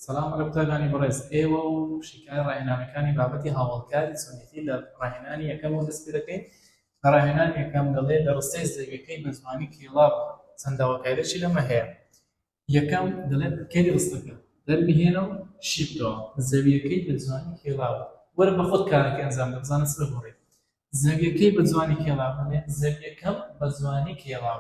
سلام علی قوتابیانی بەڕێز ئێوە و شیکای ڕاهێنانەکانی بابەتی هاوڵکاری چۆنێتی لە ڕاهێنانی یەکەم و دەست پێ دەکەین لە ڕاهێنان یەکەم دەڵێ لە ڕستەی زەویەکەی بە زمانی کیڵاو چەنداوەکایدەشی لەمە هەیە یەکەم دەڵێت کەری ڕستەکە دەربهێنە و شیبکەوە زەویەکەی بە زمانی کیڵاو وەرە بە خۆت کارەکە ئەنجام دە بزانە سەر بڕێ زەویەکەی بە زمانی کێڵاو دەڵێ زەویەکەم بە زمانی کێڵاو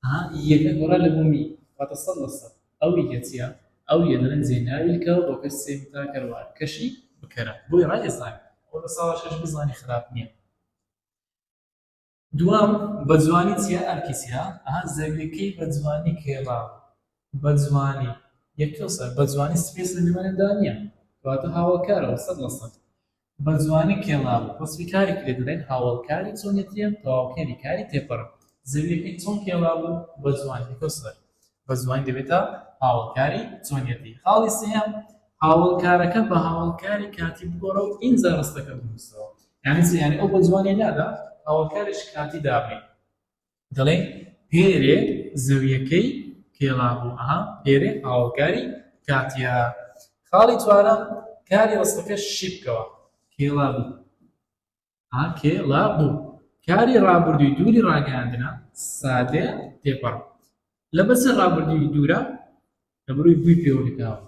ها یەکە گۆڕا لە بۆ می واتە سەد لە سەد ئەو یە چیە ئەو یە دەڵێن جێ ناویل کە و بۆکەش سێ متا کەر وار کەشی بکەرە بۆی ڕای ئێسان ئەو لە ساڵە شەش بزانی خراپ نییە دوام بە جوانی چیە ئەرکی چیە ئەها زەویەکەی بە جوانی کێڕا بە جوانی یەکەو سەر بە جوانی سپێس لە نێوانێدا نییە واتە هاوڵکارەوە سەد لە سەد بە جوانی کێڵاوە. وەسفی کارێکی لێ دەڵێن، هاوەڵکاری چۆنێتییە، تەواوکەری کاری تێپەڕە. زەوییەکەی چۆن کێڵاو و بە جوانی دەکەوت سەر. بە جوانی دەبێتە هاوەڵکاری چۆنێتی. خاڵی سێیەم، هاوەڵکارەکە بە هاوەڵکاری کاتی بگۆڕە و ئینجا ڕستەکە بنووسەوە. یانی چی؟ یانی ئەو بە جوانییە نادا، هاوەڵکاریش کاتی دابنێ. دەڵێن پێرێ زەویەکەی پێڵا بوو ئەها پێرێ هاوکاری کاتیا خاڵی چوارەم کاری ڕستەکە شیبکەوە پێڵا بوو ئا پێڵا بوو کاری ڕابردووی دووری ڕاگەاندنە سادێ تێپەڕ لە بەسەر ڕابردووی دوورە لە بروی بووی پێوەکەاوە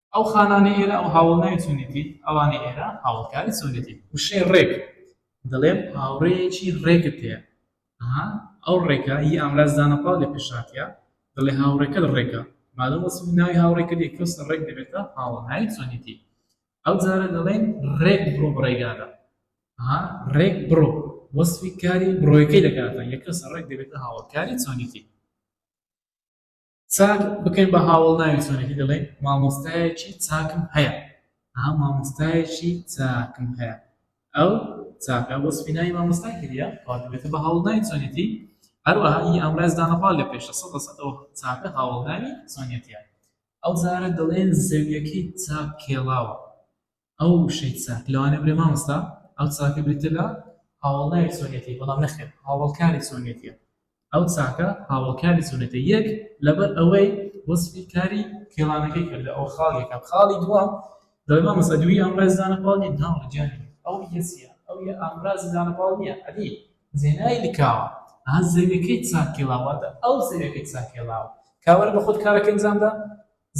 ئەو خانانەی ئێرە ئەو هاوڵناوی چونێتی ئەوانەی ئێرە هاوڵکاری چونێتی وشەی ڕێک دەڵێم هاوڕێیەکی ڕێکت هەیە ئەو ڕێکە هی ئامراز دانەپاڵ لە پێشاتە دەڵێ هاوڕێکە ڕێکە مادەم وەسم ناوی هاوڕێکە لێ کەس ڕێک دەبێتە هاوڵناوی چونێتی ئەو جارە دەڵێن ڕێک بڕۆ بڕێگادا ڕێک بڕۆ وەسفی کاری بڕۆیەکەی دەکاتە یەکەس ڕێک دەبێتە هاوڵکاری چونێتی چاک بکەین بە هاوڵ ناوی چۆنەکە دەڵێن مامۆستایەکی چاکم هەیە ها مامۆستایەکی چاکم هەیە ئەو چاکە بۆ سپینایی مامۆستای کردە پاتبێتە بە هاوڵ ناوی چۆنێتی هەروەها ئی ئامراز دانەپاڵ لە پێشە سە سەەوە چاکە هاوڵ ناوی چۆنێتیە ئەو زارە دەڵێن زەویەکەی چاک کێڵاوە ئەو وشەی چە لەوانەیە بڵێ مامۆستا ئەو چاکە بریتە لە هاوڵناوی چۆنێتی بەڵام نەخێر هاوڵکاری چۆنێتیە ئەو چاکە هاوڵکاری چۆنێتە یەک لەبەر ئەوەی وەسفی کاری کێڵانەکەی کرد لە ئەو خاڵێکە خاڵی دووەم دەڵێ مامۆستا دووی ئەمڕێز دانە پاڵ نیە ناوە جانی ئەو یەسیە ئەو یە ئامراز دانە پاڵ نیە ئەدی زێنای لکاوە ئا زەویەکەی چاکێڵاواتە ئەو زەویەکەی چاکێڵاوە کاوەرە بە خۆت کارەکەی بزاندا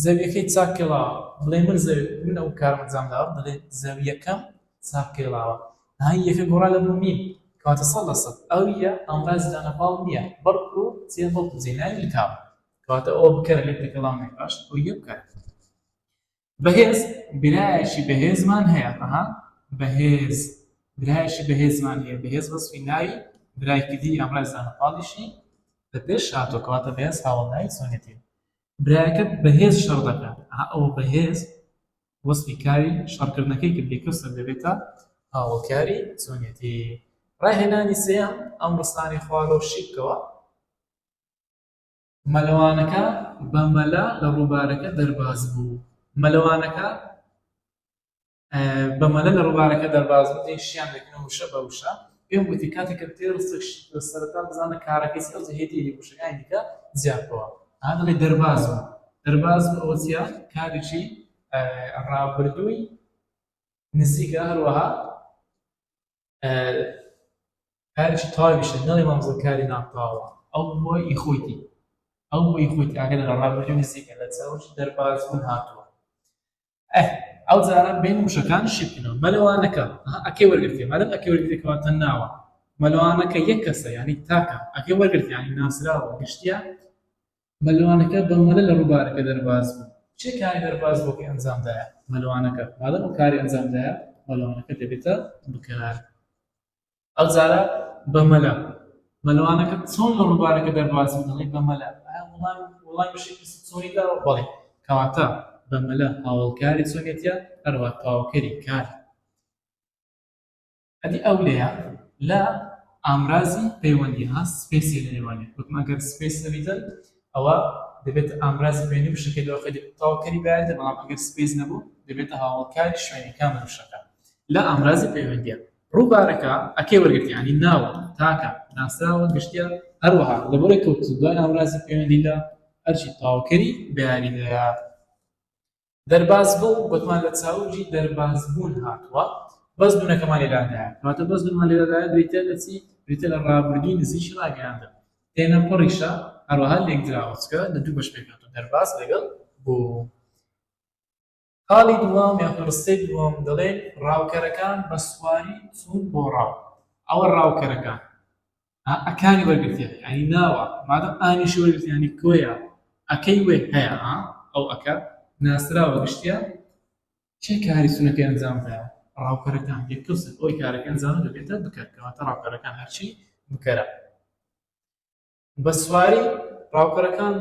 زەویەکەی چاک کێڵاوە دەڵێ من زەوی من ئەو کارم ئەنجام داوە دەڵێ زەویەکەم چاک کێڵاوە ها یەکە گۆڕا لە بۆ میم کەواتە سەد لە سەد ئەو یە ئامرازی دانە پاڵ نییە بەڵکو جێ بەڵکو جێ ناوی لکاوە کەواتە ئەوە بکەرە لێ تەکەڵاو نەک باش ئەو یە بکەرە بەهێز برایەکی بەهێزمان هەیە ئەها بەهێز برایەکی بەهێزمان هەیە بەهێز وەسفی ناوی برایەکی دی ئەمڕای زانەپاڵیشی لە پێش هاتۆکەواتە بەهێز هاوڵناوی سۆنێتی برایەکەت بەهێز شەڕ دەکات ئەها ئەوە بەهێز وەسفی کاری شەڕکردنەکەی کرد لێکەوسن دەبێتە هاوڵکاری چۆنێتی ڕاهێنانی سێیەم ئەم ڕستانی خوارۆ شیبکەوە مەلەوانەکە بە مەلا لە ڕووبارەکە دەرباز بوو مەلەوانەکە بە مەلە لە ڕووبارەکە دەرباز بوو، دەیشیان دەکرد وشە بە وشە. پێم گوتی، کاتێک کە بتەوێت ڕستەکش لە سەرەتا بزانە کارەکەی چییە، ئەوجە هێدی هێدی وشەکانی دیکە جیا بکەوە. ئەها دەڵێ دەرباز بوو. دەرباز بوو ئەوە چییە؟ کارێکی ڕابردووی نزیکە، هەروەها کارێکی تەواویشە، نەڵێ مامۆستا کاری ناتەواوە. ئەو بووە ئی خۆیتی. ئەو بووی خۆیتی ئاگەر لە ڕابردووی نزیکە لە چاوەکی دەرباز بوون هاتووە. ئەه ئەو جاران بین وشەکان شیبکەنەوە مەلەوانەکە ئەکەی وەرگرتی مەلم ئەکەی وەرگرتێکەوە تەن ناوە مەلوانەکە یەک کەسە ینی تاکە ئەگە وەرگرتیانی ناسراوە گشتیا مەلوانەکە بە مەلە لە ڕووبارەکە دەرباز بوو چێ کاری دەرباز بۆکەی ئەنجامدایە مەلوانەکە مادەم و کاری ئەنجامدایە مەلوانەکە دەبێتە بکار ئەو جارە بە مەلا. مەلەوانەکە چۆن لە ڕووبارەکە دەربازی و دەڵێی بە مەلا؟ ئایا وڵامی وڵامی بەشێکی پرسیچۆنی داوە؟ بەڵێ. کەواتە بە مەلا هاوەڵکاری چۆنیەتیە هەروا تەواوکەری کاری. ئەدی ئەو لێیە لە ئامرازی پەیوەندی ها سپێسی لە نێوانێ وتم ئەگەر سپێس نەبیتن ئەوە دەبێتە ئامرازی پەیوەندی وشەکەی لەوە خەلی تەواوکەری بەیانێتە بەڵام ئەگەر سپێس نەبوو دەبێتە هاوەڵکاری شوێنی کامە وشەکە لە ئامرازی پەیوەندیە ڕووبارەکە ئەکەی وەرگرتن یانی ناوە تاکە ناسراوە گشتیە هەروەها لەبەرەی کەوتن دوای ناوەرازی پەیوەندی لە ئەرکی تاوکەری بە یاریدەرە دەرباز بوو گوتمان لە چاوجی دەرباز بوون هاتووە بەس دوونەکەمان لێدادایە کاتە بەس دومان لێدادایە بریتە لە چی بریتە لە ڕابردووی نزیکی ڕاگەیاندە تێنە پڕیشە هەروەها لێک دراوەچکە لە دوو بەش پێکات و دەرباز لەگەڵ بۆ خاڵی دووەم یان پڕستەی دووەم دەڵێ ڕاوکەرەکان بە سواری چوون بۆ ڕاو ئەوە ڕاوکەرەکان ئا ئەکانی وەرگرتیانی ئەنی ناوە مادەم ئانیشی وەرگرتیانی کۆیە ئەکەی وێ هەیە ئا ئەو ئەکە ناسراوە گشتیا کێ کاری سونەکەی ئەنجام دایە ڕاوکەرەکان یەکەوسن ئەوی کارەکە ئەنجام دەبێتە بکەر کەواتە ڕاوکەرەکان هەرچی بکەرە بە سواری ڕاوکەرەکان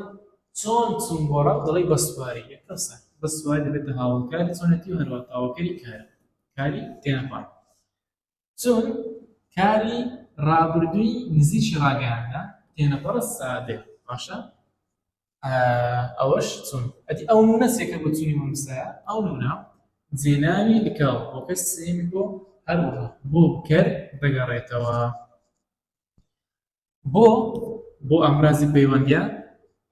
چۆن چوون بۆ ڕاو دەڵی بە سواری یەکەسە بە سواری دەبێتە هاوڵکاری چۆنەتی و هەروە تاوەکەری کار کاری تێنەپان چون کاری ڕابردووی نزیکی ڕاگەیاندا تێنەپەڕە سادێ باشە ئەوەش چون ئەتی ئەو نونە سێکە بۆ چونی مەمسایە ئەو نونە جێناوی لکاو بۆ کەس سێمی بۆ هەروەها بۆ کەر دەگەڕێتەوە بۆ بۆ ئامرازی پەیوەندیە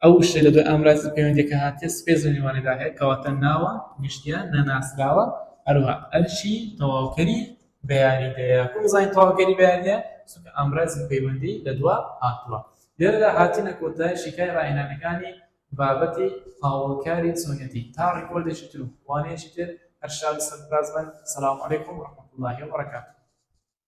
ئەو شتە لە دوای ئامرازی پەیوەندیەکە هاتێ سپێس و نیوانەدا هەیە کەواتە ناوە گشتیان نەناسراوە هەروە ئەرشی تەواوکەری بەیاریدەیە کوزای تەواوکەری بەیاریدەیە چونکە ئامرازی پەیوەندی لە دوا هاتووە لێرەدا هاتینە کۆتای شیکای ڕاهێنانەکانی بابەتی هاوڵکاری چۆنێتی تا ڕیکۆردێکی تر و وانەیەکی تر هەر شاد سەرفراز بن سلام علیکم ورحمة الله وبرکاته